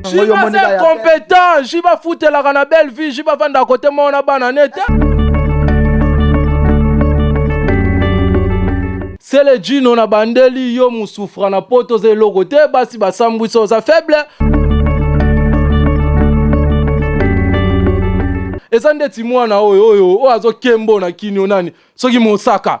jiba se competent jiba futelaka na belle vie jiba vanda kote moko na bana ne te sele jino na bandeli yo mosufra na poto oza eloko te basi basambwisa oza faible eza ndeti mwana oyo oyo oyo azokembo na kinio nani soki mosaka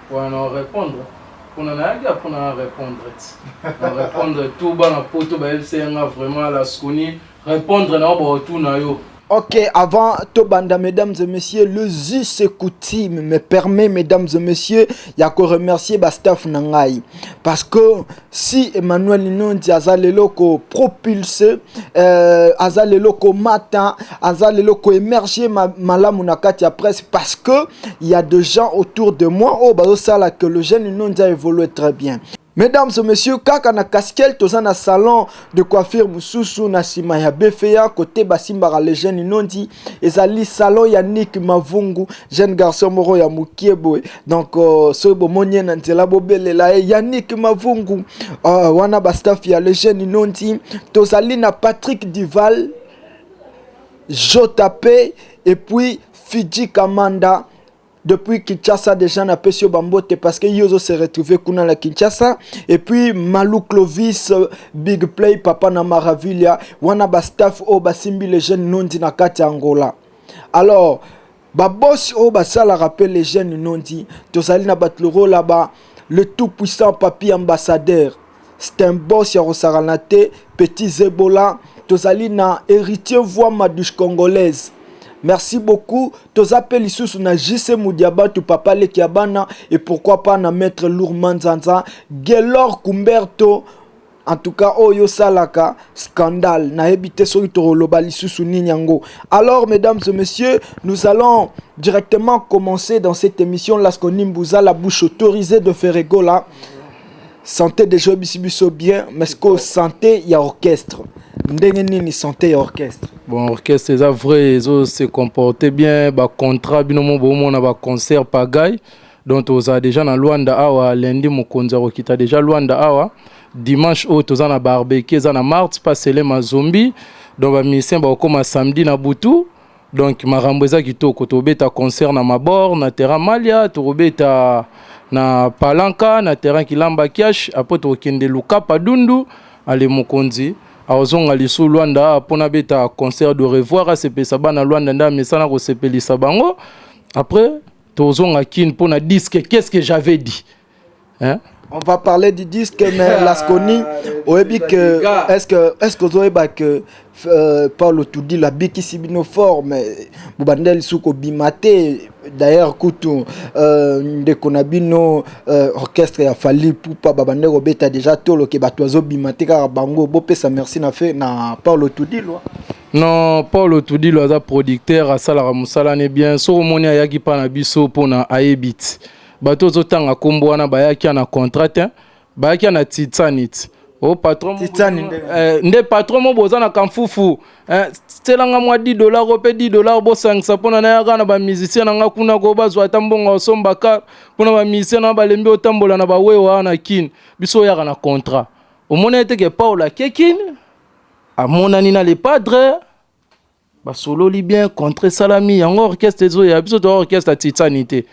Pona na repondre pona nayaki ya pona na repondre ti na repondre tout bana poto bayebisa nga vraiment la sconi repondre na yo baotuna yo Ok, avant Tobanda, mesdames et messieurs, le Zus coutume me permet, mesdames et messieurs, ya ko remercier ba staff nangai. Parce que si Emmanuel Nonzi aza lelo ko propulser euh, aza lelo ko mata aza lelo ko émerger ma, malamu na kati ya presse parce que il y a des gens autour de moi oh bazo sala que le jeune Nonzi a évolué très bien Mesdames et messieurs, kaka na casquette toza na salon de coiffure mususu na sima ya BFA côté Basimbara Legend Inondi ezali salon ya nik mavungu jeune garçon moko ya mokie boye donc uh, soki bomoni ye na nzela bobelela ye ya nik mavungu uh, wana bastaff ya le jeune inonti tozali na patrick dival jp epuis fiji kamanda depuis Kinshasa déjà na pesi yo bambote parce que yo ozo se retrouver kuna na Kinshasa et puis Malou Clovis euh, Big Play papa na Maravilia wana ba staff oyo basimbi les jeunes nondi na kati ya Angola alors babosi oyo basalaka mpe les jeunes nondi tozali na bato lokola ba le tout puissant papi ambassadeur c'est un boss ya kosakana te petit zebola tozali na héritier voix madouche congolaise merci beaucoup toza mpe lisusu na jc mudiabatu papa leki ya bana et pourquoi pas na maître lour manzanza gelor kumberto en tout cas oyo osalaka scandale nayebi te soki tokoloba lisusu nini yango alors mesdames et messieurs nous allons directement commencer dans cette émission lasco nimbuza la bouche autorisée de ferregola Santé déjà oyebisi biso bien mais sikoyo santé ya orchestre ndenge nini santé ya orchestre bon orchestre eza vrai ezo se comporter bien bacontrat bino mo bomona baconcert pagai donc tozala déjà na luanda awa lundi mokonzi akokita déjà luanda awa dimanche oyo toza na barbecue eza na marte pasele mazombi donc bamusicien bakokoma samedi na butu donc makambo eza kitoko tobeta concert na mabor na terrain malia tokobeta na palanka na terrain kilamba kiash apres tokokende lukapa dundu ale mokonzi akozonga lisu lwanda mpo nabeta concert de revoir asepelisa bana lwanda nde amesana kosepelisa bango apres tozonga kin mpo na diske qu'est ce que j'avais dit Hein? On va parler du disque, mais ah, Lasconi, oyebi que, est-ce que, est-ce que ozoyeba que euh, Paulo Tudi la bikisi bino fort, mais bobandeli suko bimate, d'ailleurs kutu euh, ndeko na bino euh, orchestre ya Fally Pupa babandeli kobeta déjà tolo ke bato azobimate kaka bango, bopesa merci na fe na Paulo Tudi lwa. non paul otudilo aza producteur asalaka mosala ne bien soki omoni ayaki mpa na biso mpo na ayebit Bato ozo tanga kombo wana bayaki ya na contrat te, bayaki ya na Titsanit. Oh patron mo Titani boza- nde. eh, nde patron mo boza na kamfufu eh, tiela nga mwa 10 dollars o pe 10 dollars bosangisa mpona nayaka na bamusicien na nga kuna ko bazwa ata mbongo ya osomba kar mpona bamusicien na balembi otambola na bawewa wana na kin biso oyaka na contrat omona ete ke paul akekin amonani na le padre basololi bien contre esalami yango orchestre ezoya biso toa orchestre ya titani te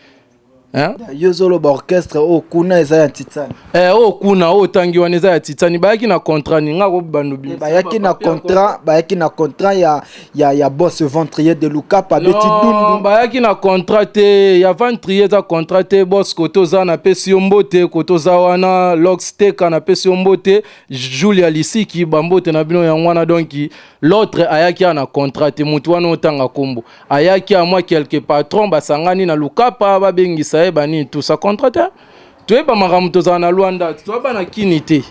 hein? yo ozoloba orchestre oyo oh, kuna eza ya titani eh, oyo oh, kuna oyo oh, otangi wana eza ya titani bayaki na contrat ninga akobando eh, bayaki na contrat bayaki na contrat ya, ya, ya boss ventrier de lukapa abeti dundu bayaki na contrat te ya ventrier eza contrat te boss kote oza napesi yo mbote kote oza wana lox teka napesi yo mbote julia lisiki bambote na bino yango wana donki L'autre ayaki awa na contrat te, motu wana otanga kombo ayaki awa mwa quelque patron basangani na lukapa babengisa ye banini tout ça contrat te toyeba makambo tozala na Luanda te toyaba na kini te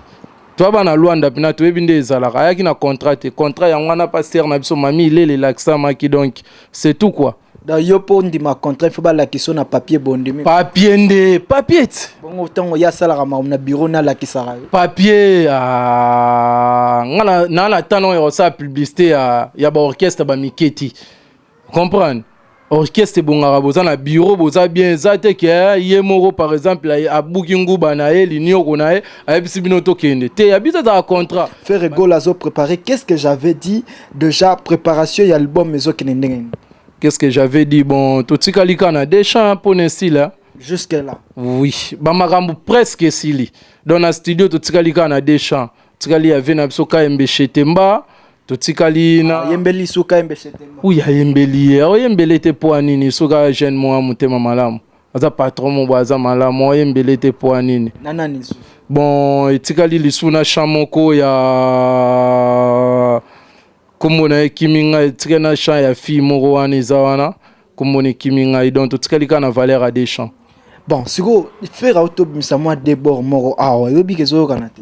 toyaba na Luanda mpena toyebi nde ezalaka ayaki na contrat te contrat yango wana pasteur na biso mami ilele elakisamaki donc c'est tout quoi da yo mpo ondima contrat fo balakisa na papier bondimi papier nde papier ti bongo ntango ye asalaka makambo na bureau nde alakisaka yo papier ah, nga naa na ntango ya kosala publicité ya, ya baorchestre bamike ti comprendre orchestre ebongaka boza na bureau boza bien eza te ke eh, ye moko par exemple abuki nguba na ye linioko na ye ayebisi bino tokende te ya biso ezala contrat ferre gol azoprépare qu'est ce que j'avais dit Deja préparation ya album ezokende ndenge nini? Qu'est-ce que j'avais dit? Bon, totikali kaka na deux chants hein, mpo na esila hein. Jusque là. Oui, bamakambo presque esili. Donc na studio totikali kaka na deux chants. Totikali ya vie na biso Kayembe Shetemba, totikali na Yembeli suka yembe chez Temba. oyo ayembeli ye aoyembele te mpo ya nini soki aya jeune moya motema malamu aza patron mo boye aza malamu oye mbele te mpo nini na nani lisusu bon etikali lisusu na champ moko ya nkombo na ye ekimi ngai etikali na champ ya fille moko wana eza wana nkombo na ekimi ngai donc totikali kaka na valeur ya deux champs bon sikoyo fere autobimisa mwa debord moko awa ah, oyebiki ezoyokana te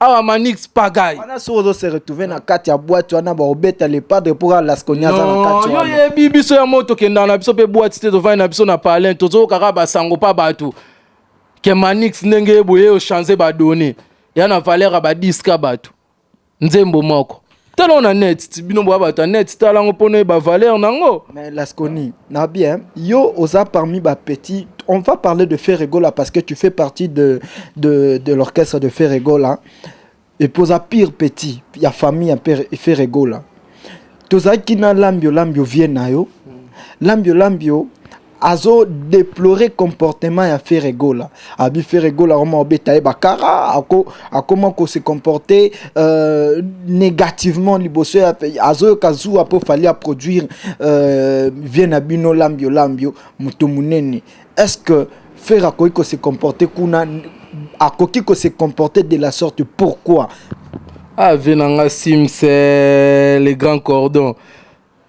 awa manix pagay wana soki ozo se retrouver na kati ya boite wana baobeta le padre mpo kaka laskonia aza na kati yo wana yebi biso ya moto kendaka na biso mpe boite te tofandi na biso na palin tozokaka basango mpa bato ke manix ndenge ye boye ochange badone ya na valeur ya badiska bato nzembo moko tala na net ti bino boya bato ya net tala yango mpo noyeba valeur na yango mais lasconi na bien yo oza parmi bapetit on va parler de ferregola parce que tu fais partie de, de, de l'orchestre de ferregola epuis oza pire petit ya famille ya ferregola tozalaki na lambio lambio vie na yo lambio lambio azo deplorer comportement ya Ferre Gola abi Ferre Gola koma obeta ye bakara ako akoma ko se comporter euh, négativement liboso ya azoyoka zuwa mpo fali a produire euh, vie na bino lambio lambio moto monene est ce que Ferre akoki ko se comporter kuna akoki ko se comporter de la sorte pourquoi ah vie na nga simse le grand cordon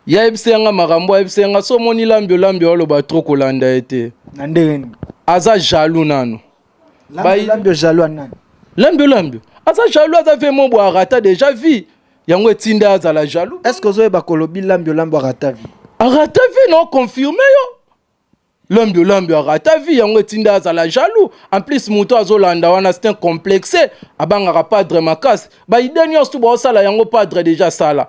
Ya yebisa ya nga makambo, yebisa ya nga so moni lambi olambi oloba trop kolanda ye te. Na ndenge nini? Aza jaloux nanu. Lambi lambi jaloux nani? Lambi lambi. Aza jaloux aza vie mo bwa rata déjà vie. Yango etinda azala jaloux. Est-ce que ozoyeba kolobi lambi lambi rata vie? Rata vie non confirmer yo. Lombio Lombio arata vie yango etinda azala jaloux en plus moto azolanda wana c'est un complexe abangaka padre makasi baide nyonso baosala yango padre deja asala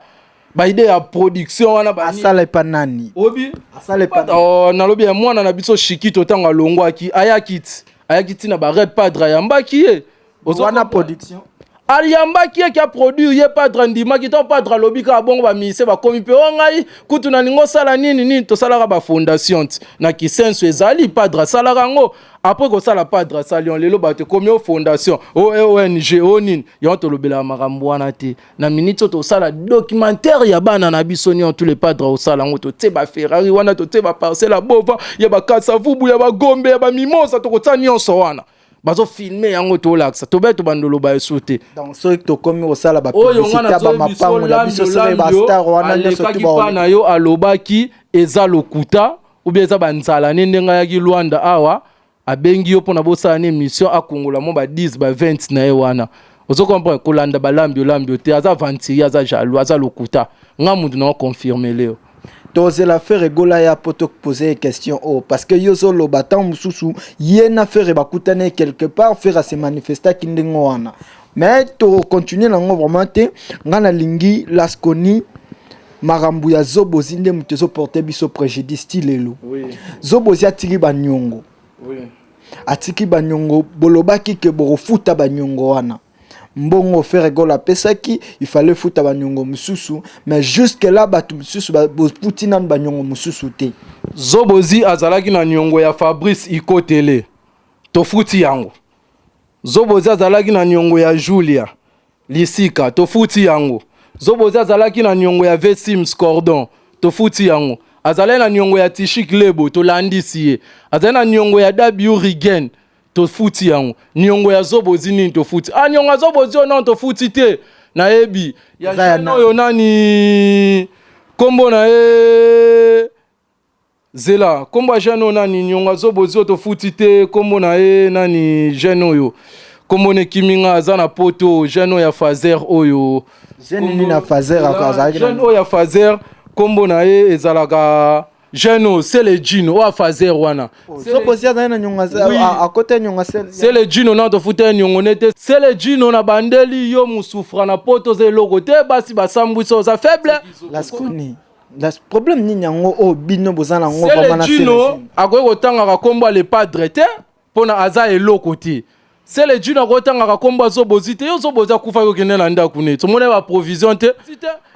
baide ya production wana asala epa nani obi asala epa oh, nalobi ya mwana na biso shikito ntango alongwaki ayaki ti ayaki ntina barep padre ayambaki ye wana production aliyambaki ye kia produire ye padre andimaki to padre alobi kaka bongo bamise bakomi mpe o ngai kutu nalingi osala nini nini tosalaka bafondation ti na kisenso ezali padre asalaka yango apres kosala padre asali on lelo bato ekomi o fondation o ong o nini yango tolobelaka makambo wana te na miniti oyo tosala documentaire ya bana na biso nio tous les padre osala yango totie baferrari wana totie baparcelle ya bova ya bakasavubu ya bagombe ya bamimosa tokotia nyonso wana bazo filme yango tolakisa tobeto bandolo baye so te donc soki tokomi kosala bapublicité ya bamapango na biso soki bastar wana nyonso tuba na yo alobaki eza lokuta ubia eza banzala ne ndenge ayaki lwanda awa abengi yo mpona bosala na émission akongola mwa ba 10 ba 20 na ye wana ozo comprendre kolanda balambi olambi yo te aza aventurier aza jaloux aza lokuta nga mutu na oconfirme leo tozela ferre gola ya po topose question oyo oh, parce que yo ozoloba ntango mosusu ye na ferre bakutani quelque part ferre ase manifestaki ndenge wana mais tokontinue nango vraiment te ngai nalingi lasconi makambo ya zobozi nde moto ezoporte biso préjudice ti lelo zobozi atiki banyongo atiki banyongo bolobaki ke bokofuta banyongo wana mbongo Ferre Gola apesaki il fallait futa banyongo mosusu mais jusque là bato mosusu boputi nanu banyongo mosusu te zobozi azalaki na nyongo ya fabrice ikotele tofuti yango zobozi azalaki na nyongo ya julia lisika tofuti yango zobozi azalaki na nyongo ya vesims cordon tofuti yango azalaki na nyongo ya tishik lebo tolandisi ye azali na nyongo ya wrigen tofuti yango niongo ya zobo ozi nini tofuti ah niongo ya zobo ozi onon tofuti te nayebi ya Eza ya jeune nani? oyo nani kombo na ye zela kombo ya jeune oyo nani niongo ya zobo ozi oyo tofuti te kombo na ye nani jeune oyo kombo na ekimi nga aza na poto jeune oyo ya fazer oyo Jeune nini na Fazer ako azalaki na- jeune oyo ya fazer kombo na ye ezalaka jeune oyo sele jino oyo afazer wana sokosi azali na nyonga akota nyonga sele jino na tofuta ye nyongo ne te sele jino na bandeli yo mosufra na poto oza eloko te basi basambwisa oza faible laskoni problème nini yango oyo bino boza na yango akoki kotangaka nkombo ya lepadre te pona aza eloko te sele june akotangaka kombo ya zobo ozwi te yo zobo oza kufa yo okende na ndako neti omona ba provision te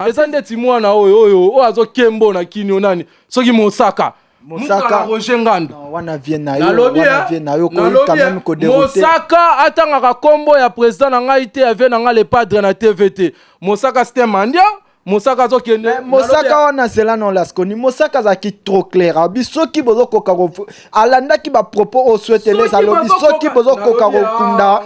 eza ndeti mwana oyo oyo oyo azokembo na kinio nani soki mosaka mosaka roger ngando wana vie na yo nalobi wana vie na yo ko nalobi quand même ko eh, dérouter mosaka atangaka kombo ya president na ngai te ya vie na ngai le padre na tv te mosaka c'était mandia mosaka azokende eh, mosaka wana zela na olaskoni mosaka azalaki trop clair abi soki bozokoka alandaki bapropos oyo sueteles alobi soki bozokoka kokunda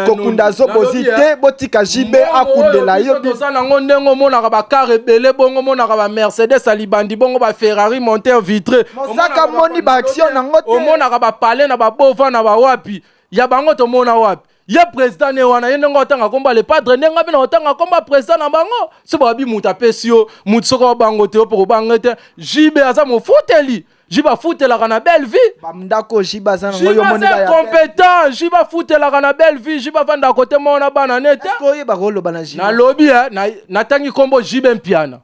kokunda zo bozi te botika jb akundela yo toza nango ndenge omonaka bakar ebele bongo omonaka bamercedes ya libandi bongo baferrari monter vitre mosaka moni baaction nango te omonaka bapale na babova na bawapi ya bango tomona wapi ye president ne wana ye ndenge otanga kombo ale padre ndenge ngabi na otanga kombo ya president na bango si babi moto apesi yo moto soki obango te opo kobange te jibe aza mofuteli jibe afutelaka na belle vie bandako jibe aza nango yo moni ya competent jibe afutelaka na belle vie jibe avandaka kote moko na bana ne te oyeba koloba na jibe nalobi eh, natangi kombo jibe mpiana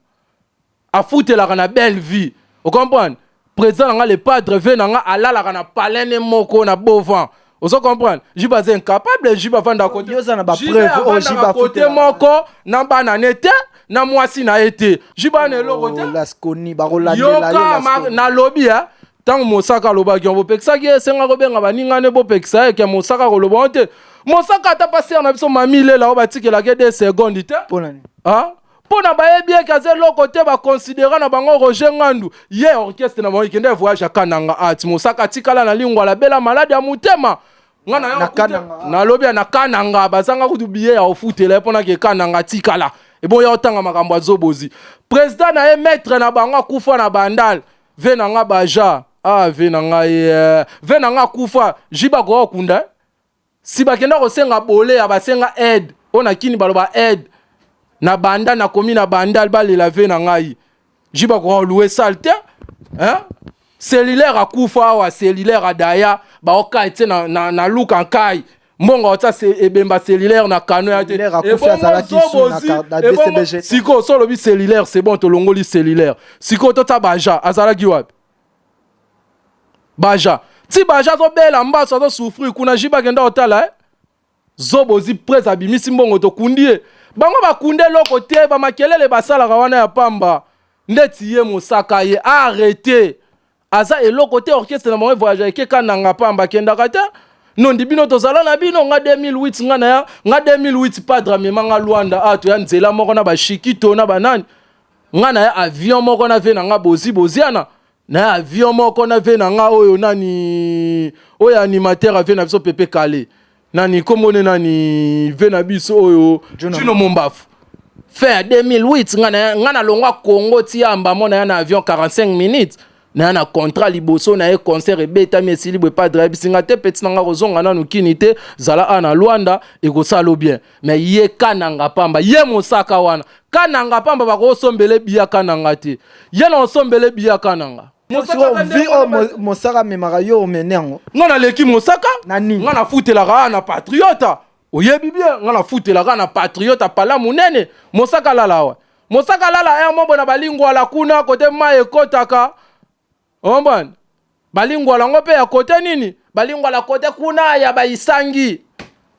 afutelaka na belle vie ocomprendre président na nga le padre vie na nga alalaka na palene moko na beau vent ozo comprendre jibe aza incapable jibe avanda kote oza na bapreuve oyo jibe akote moko na bana ne te na mwasi na ye te jibe ana eloko te oh, yoka nalobi ya ntango mosaka alobaki yango bopekisaki ye esenga kobenga baninga ne bopekisa ye ke mosaka koloba yango te mosaka ata pasere na biso mami lela oyo batikelaki ye de seconde te mpo nani ah? mpo na bayebi eke aza eloko te bakonsidera na bango roger ngandu ye orchestre na bango ekende voyage ya kananga ati ah, mosaka atikala na lingwa alabela maladi ya motema nga na yo nalobi ya na kananga bazanga kutu biye ya ofutela ye mpo nake kananga atikala eboya otanga makambo ya zobozi president na ye maître na bango akufa na bandal ve na nga baja ah ve na ngai eh. ve na nga akufa jiba koya okunda eh. si bakenda kosenga bole ya basenga aide oyo na kini baloba aide na banda nakomi na bandal balela ve na ngai ji bakokalue sale te hein? cellulaire akufa awa cellulaire adaya baokai te na, na, na luka nkai mbongo otya ebemba cellulaire na kano ya te sikoyo so olobi cellulaire c'est bon tolongoli cellulaire sikoyo totya baja azalaki wapi baja ti baja azobela mbaso azosouffrir kuna jiba akenda kotala eh? zobo ozi prese abimisi mbongo tokundi ye bango bakundi eloko te bamakelele basalaka wana ya pamba ndeti ye mosaka ye arrete aza eloko te orchestre na bango evoyage eke kananga pamba akendaka te nondi bino tozala na bino nga 2008 nga na ya nga 2008 padre amema nga lwanda ato ah, ya nzela moko na bashikito na banani nga na ya avion moko na vie na nga bozi boziana na ya avion moko na vie na nga oyo nani oyo animateur avie na biso pepe kale nani kombo ne nani vie na biso oyo chino mombafu fin ya 2008 nga na longwa congo ti ya mbamo na ya na avion 45 minutes na na contrat liboso na ye concert ebetami esili boye padre ayebisi nga te peti na nga kozonga nanu kini te zala a na lwanda ekosalo bien me ye kananga pamba ye mosaka wana kananga pamba bakosombele biya kananga te ye na osombele biya kananga vi oyo oh, mosaka amemaka yo omene yango nga naleki mosaka nga nafutelaka na patriota oyebi bien nga nafutelaka na patriote apala monene mosaka lala awa mosaka lala ya mombo na balingwala kuna kote mai ekotaka ombani balingwala yango mpe ya kote nini balingwala kote kuna ya baisangi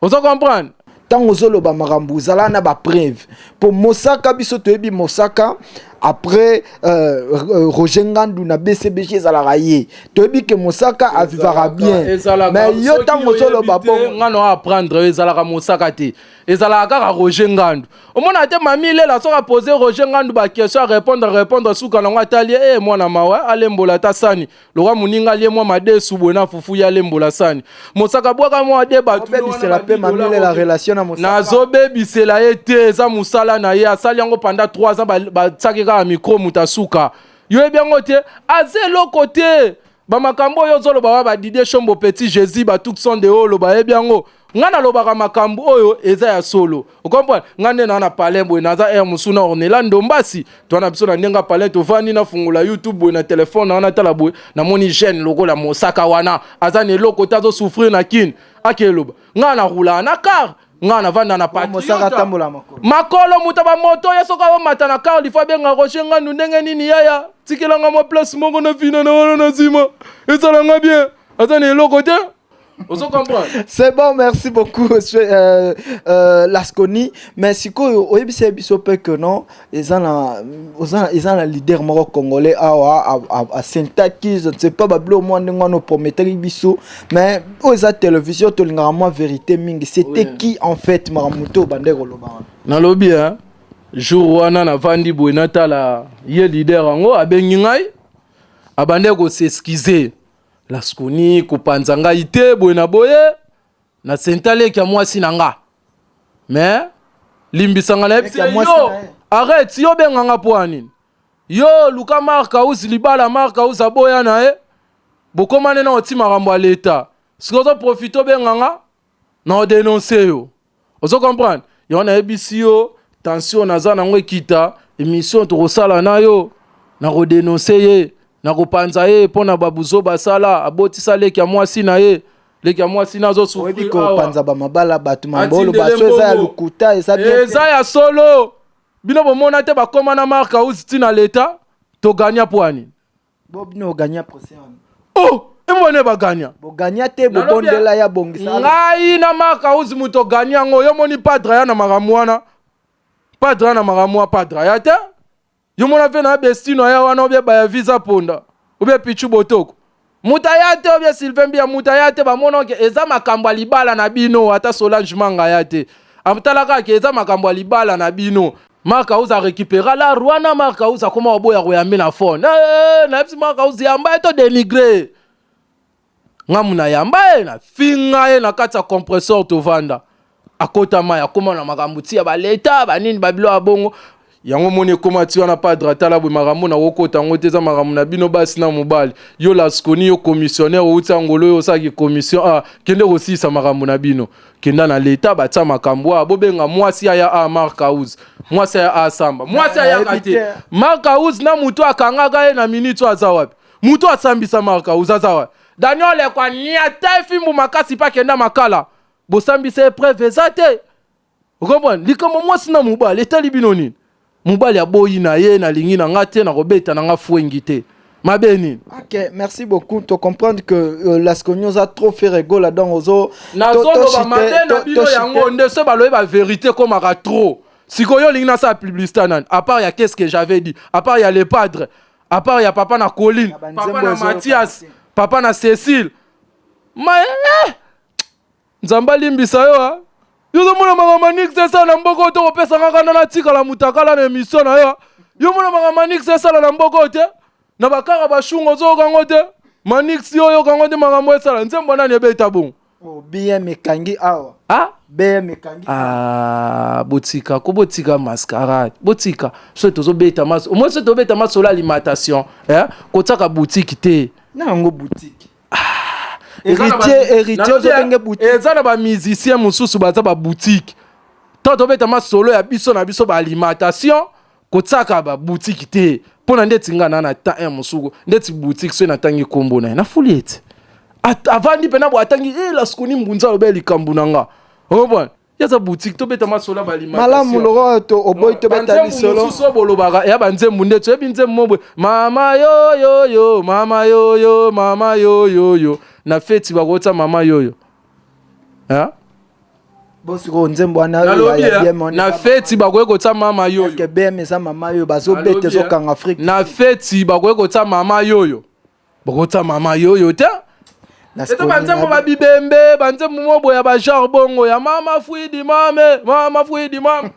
ozo comprendre ntango ozoloba makambo ozala na bapreuve mpo mosaka biso toyebi mosaka après euh, euh, roger ngandu na bcbg ezalaka ye toyebi ke mosaka avivaka bien mais yo ntango ozoloba bonga na apprendre ezalaka mosaka te ezalaka kaka roger ngandu omona te mami lela soki apose roger ngandu baquestion arépondre arépondre suka nango atali ye e eh, mwana mawa alembola ata sani lokola moninga alie mwa madesu boye na fufu ye alembola sani mosaka bwaka mwa de batobebisela mpe mamilela relation na mosaka nazobebisela ye te eza mosala na ye asali yango panda 3 aza batiaki kaka mikro moto asuka yo yebi yango te aza eloko te bamakambo oyo ozoloba wa badidie shombo petit jésus batukson de oloba yebi yango ngai nalobaka makambo oyo eza ya solo okomprendre nga nde naa na palin boye naza aire mosusu na ornela ndombasi toa na biso na ndenge ya palin tovandi nafungola youtube boye na telefone wana tala boye namoni jeune lokola mosaka wana aza na eloko te azosouffrir na kine ake eloba ngaa narulaa na kar ngaa navanda na patriote makolo moto ya bamoto ye soki aomata na kar lifo abenga roger ngandu ndenge nini yaya tikelanga mwa place moko na vina na wana na nsima esalanga bien aza na eloko te ozo comprendre c'est bon merci beaucoup euh, euh, lasconi mais sikoyo oyebisa ye biso mpe que non eza na eza na leader moko congolais awa asentaki je ne sais pas babilo mwa ndenge wana oprometaki biso mais oyo eza télévision tolingaka mwa vérité mingi c'était oui. qui en fait makambo to obandaki koloba wana nalobi hein? jour wana navandi boye natala ye leader yango abengi ngai abandaki koseskize laskuni kopanza ngai te boye na boye na senta leki ya mwasi na nga me limbisanga na yebisi yo arrete yo benga nga mpo ya nini yo luka mark aus libala mark aus aboya na ye bokomane na oti makambo ya leta sikoyo ozoprofite obenga nga na odenonse yo ozo comprendre yango nayebisi yo tension naza nango ekita emission tokosala na yo nakodenonse ye nakopanza ye mpo na babuzo basala abotisa leki ya mwasi na ye leki ya mwasi nazo souffrir awa. kopanza bamabala bato mabolo Atindele baso eza ya mbongo. lokuta eza bien te. eza ya solo bino bomona te bakoma na mark house ntina leta togagna pwani Bo bino o gagna procès wana. Oh! Emone ba gagna. Bo gagna te bo Nalobi ya- bondela ya bongisa. ngai na maka uzi moto gani yango yo moni padre aya na makambo wana padre aya na makambo wana padre aya te yo mona mpe na bestino aya wana obie baya visa ponda obie pichu botoko moto aya te obie sylvain mbiya moto aya te bamona ke eza makambo ya libala na bino ata solange manga aya te atalaka ke eza makambo ya libala na bino Marc House a récupéra la Rwanda Marc House akoma oboya koyambi na phone. Eh, na yebisi Marc House yamba ye to dénigrer. Nga muna yamba ye na finga ye na kati ya compresseur tovanda. Akota mai akoma na makambo tia ba leta ba nini ba bilo ya bongo. Yango moni ekoma ti wana padre atala boye makambo na kokota yango te eza makambo na bino basi na mobali yo laskoni yo commissionnaire outi angolo yo osalaki commission ah, kende kosilisa makambo na bino kenda na leta batia makambo awa bobenga mwasi aya a mark house mwasi aya asamba mwasi ayaka te mark house na moto akangaka ye na minute oyo aza wapi moto asambisa mark house aza wapi daniel ekwa niata efimbu makasi mpe akenda makala bosambisa epreuve eza te okomprendre likambo mwasi na mobali etali bino nini mobali aboyi na ye nalingi na nga te nakobeta na nga fwengi te mabe nini ok merci beaucoup to comprendre que euh, lasconi oza trop faire egola donc ozo nazoloba mabe na bino yango nde so balobi baverité ekomaka trop sikoyo olingi nasala publicité nani apart ya qu'est-ce que j'avais dit apart ya le padre apart ya papa na colline papa na mathias papa na cécile ma eh, Nzambe alimbisa yo ha. Yo ozomona makambo manix esala na mboka oyo tokopesa nga kanda natikala mutakala na emission na yo. Yo omona makambo manix esala na mboka oyo te. Na bakaka bashunga ozoyoka yango te. Manix yo oyoka yango te makambo esala. Nzembo nani ebeta bongo? Oh, bien mekangi awa. Ah? Bien mekangi. Ah, botika ko botika mascarade. Botika so tozobeta maso. Omoni so tobeta maso la alimentation, eh? Kotsaka boutique te. Na yango boutique. eza na bamusicien mosusu baza babutike to tobeta masolo ya biso na biso baalimentation kotiaka babutike te mpo na ndeti ngai na na temps eh, mosuku ndeti butike soki natangi nkombo na ye nafuli ete avandi mpe na bo atangi e eh, laskoni mbunza alobe likambo na nga okomprendre yaza boutique tobeta masola balimamalamu lokola to oboyi tobeta lisolo mosusu oyo bolobaka ya banzembu nde toyebi nzembu mobwe mama yoyoyo mama yoyo mama yoyoyo na feti bakotya mama yoyo bosikoyo nzembo wanana feti bakoki kotya mama yoyo bm eza mama yoyo bazobeta ezokanga afrike na feti bakoki kotya mama yoyo bokotisa mama yoyo te eto banzembo babibembe banzembo mobo ya bagenre bongo ya mama fuidi mame mama fuidi mame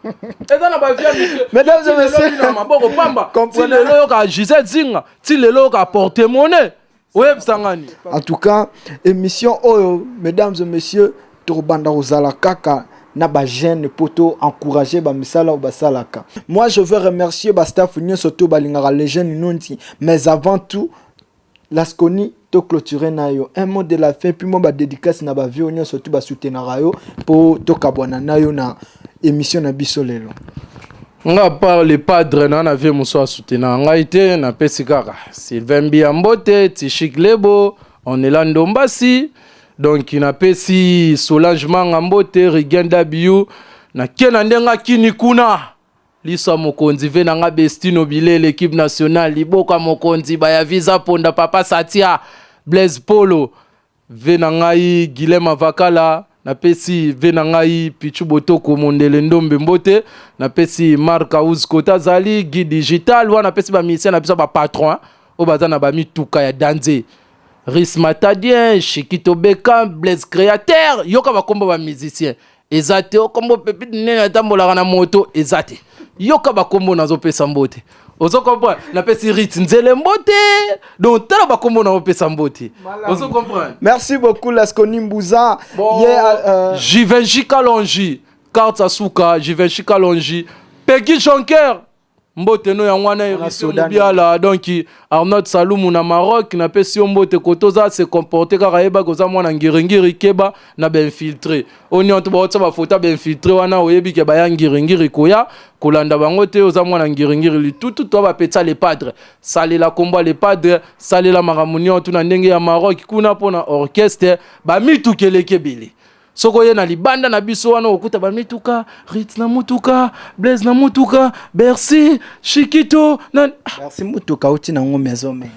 eza na baviamikeina maboko pamba ti lelo yoka gisele zinga ti lelo yoka porte mone oyebisa ngani en tout cas émission oyo mesdames et messieurs Tokobanda kozala kaka na ba jeune po to encourager ba misala oyo basalaka. Moi je veux remercier ba staff nionso to balingaka le jeune Nonzi mais avant tout Lasconi to clôturer na yo un mot de la fin puis moi ba dédicace na ba vieux nionso to ba soutenaka yo po to kabwana na yo na émission na biso lelo. nga par le padre na na vie mosusu asoutenaka ngai te napesi kaka sylvain mbiya mbote tishik lebo onela ndombasi donc napesi solange manga mbote rigen w nake na ndenge akini kuna liso ya mokonzi ve na nga bestino bilele ekipe nationale liboko ya mokonzi baya visa ponda papa satia blaise polo ve na ngai gilema vakala napesi ve na ngai pichu botoko mondele ndombe mbote napesi mark aus kota azali guide digital wana napesi bamisien na biso bapatron oyo baza na bamituka ya danze Ris Matadien, Chikito Beckham, Blaise Createur, yoka bakombo ba musicien. Eza te okombo pepite nene atambolaka na moto eza te. Yoka bakombo nazopesa mbote. Ozo comprendre? Napesi Rit nzele mbote. Donc tala bakombo nazopesa mbote. Ozo comprendre? Merci beaucoup Lasco Nimbuza. Bon, yeah, euh... Givenchy Kalonji, Carte Asuka, Givenchy Kalonji, Peggy Jonker. mbote no yango wana emission mobiala donc arnold salumu na maroc napesi yo mbote kote oza se comporte kaka yebaki oza mwana ngiringiri keba na bainfiltre oyo nionto baotisa bafoto ya bainfiltre wana oyebi ke baya ngiringiri koya kolanda bango te oza mwana ngiringiri litutu to bapetisa le padre salela kombo le padre salela makambo nionto na ndenge ya maroc kuna mpo na orchestre bamitukelekebele soko ye na libanda na biso wana okuta bamituka rit na mutuka blaise na mutuka bercy shikito na bercy mutuka uti na ngo maison me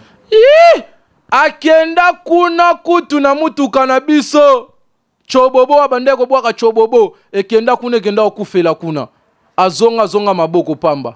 akenda kuna kutu na mutuka na biso cobobo abandaki kobwaka cobobo ekenda kuna ekenda kokufela kuna azonga azonga maboko pamba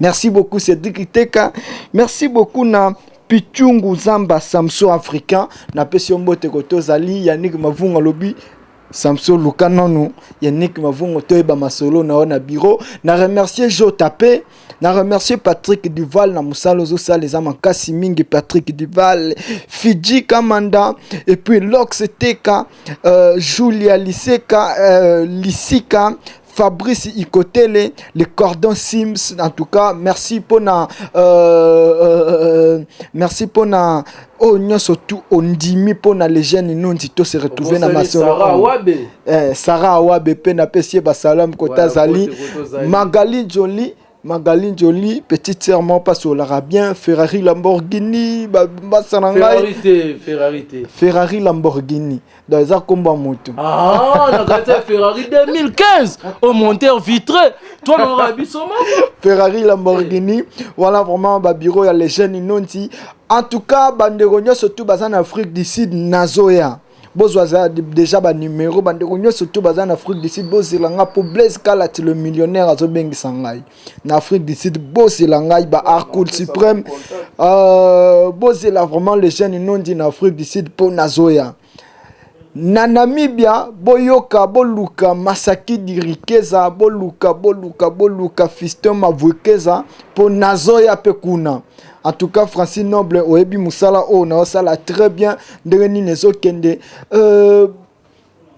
Merci beaucoup Cédric Iteka. Merci beaucoup na Pichungu Zamba Samso Africain. Na pesi mbote ko tozali Yannick Mavunga lobi Samso luka nanu Yannick Mavungo toyeba masolo na na bureau. Na remercier Jo Tapé. Na remercier Patrick Duval na musalo zo sale za makasi mingi Patrick Duval, Fiji Kamanda et puis Lox Teka, euh, Julia Liseka, euh, Lisika Fabrice Ikotele, les cordons Sims, en tout cas, merci pour na, euh, euh, euh merci pour na, oh, non, surtout, on dit mi pour na les jeunes, nous, dit tout se retrouver dans ma soeur. Sarah Awabe. Eh, Sarah Awabe, pe na pesier, ba salam, kota zali, Magali Jolie, Magali Njoli, petite sœur moko pasi olaka bien, Ferrari Lamborghini, basa na ngai. Ferrari te, Ferrari te. Ferrari Lamborghini. Donc eza kombo ya moto. Ah, na kati ya Ferrari 2015 au monteur vitré. Toi na nga biso moko. Ferrari Lamborghini. Voilà vraiment ba bureau ya les jeunes inonti. En tout cas, bandeko nyonso tout baza na Afrique du Sud nazoya. bozwa za deja banumero bandeko nyonso to baza na afrique du sud bozela ngai mpo blaise kalati le millionnaire azobengisa ngai na afrique du sud bozela ngai ba arcoul supreme uh, bozela vraiment le jeune nondi na afrique du sud mpo nazoya na namibia boyoka boluka masaki dirikeza boluka boluka boluka fiston mavukeza mpo nazoya mpe kuna En tout cas, Francine Noble, oyebi musala o oh, na osala très bien. Ndenge nini ezokende. Euh,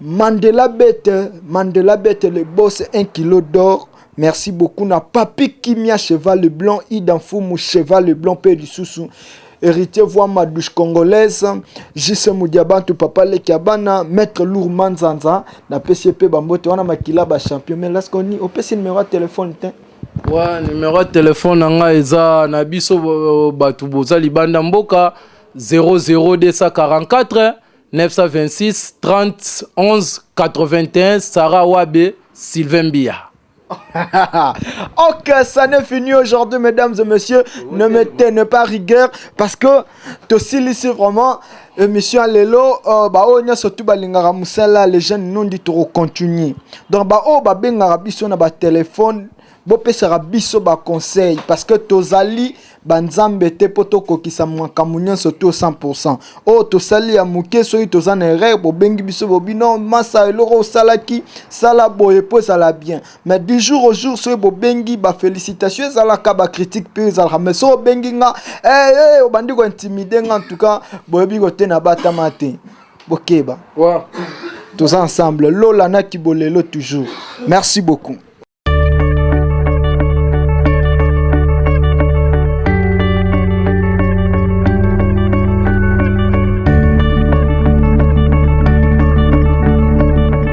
Mandela Bête, Mandela Bête, le boss, un kilo d'or. Merci beaucoup na Papi Kimia Cheval le Blanc, Idan Fumu Cheval le Blanc, Père du Soussou. héritier voix ma douche congolaise jise mudiabantu papa leki ya bana maître lour manzanza napesi ye mpe bambote wana makila bachampion mais laskoni opesi numero ya telefone te Ouais, numéro ya telefone na ngai eza na biso bato boza libanda mboka 00244 926 30 11 81 Sarah Wabe Sylvain Biya. ok, ça n'est fini aujourd'hui, mesdames et messieurs. Ne mettez ne pas rigueur parce que tosilisi vraiment émission ya lelo uh, baoyo nyonso tu balingaka mosala les jeunes nondi tokocontinue donc baoyo babengaka biso na batelefone bopesaka biso baconseil parce que tozali banzambe te mpo tokokisa makambo nyonso to 100 oyo tosali ya moke soki toza na erreur bobengi biso bobino masa eloko osalaki sala boye mpo ezala bien mais du jour au jour soki bobengi ba félicitation ezalaka ba critique mpe ezalaka mais soki obengi nga hey, eh, eh, hey, obandi kointimide nga en tout cas boyebi kotena batama te bokeba wow. toza ensemble lola na kibolelo toujours merci beaucoup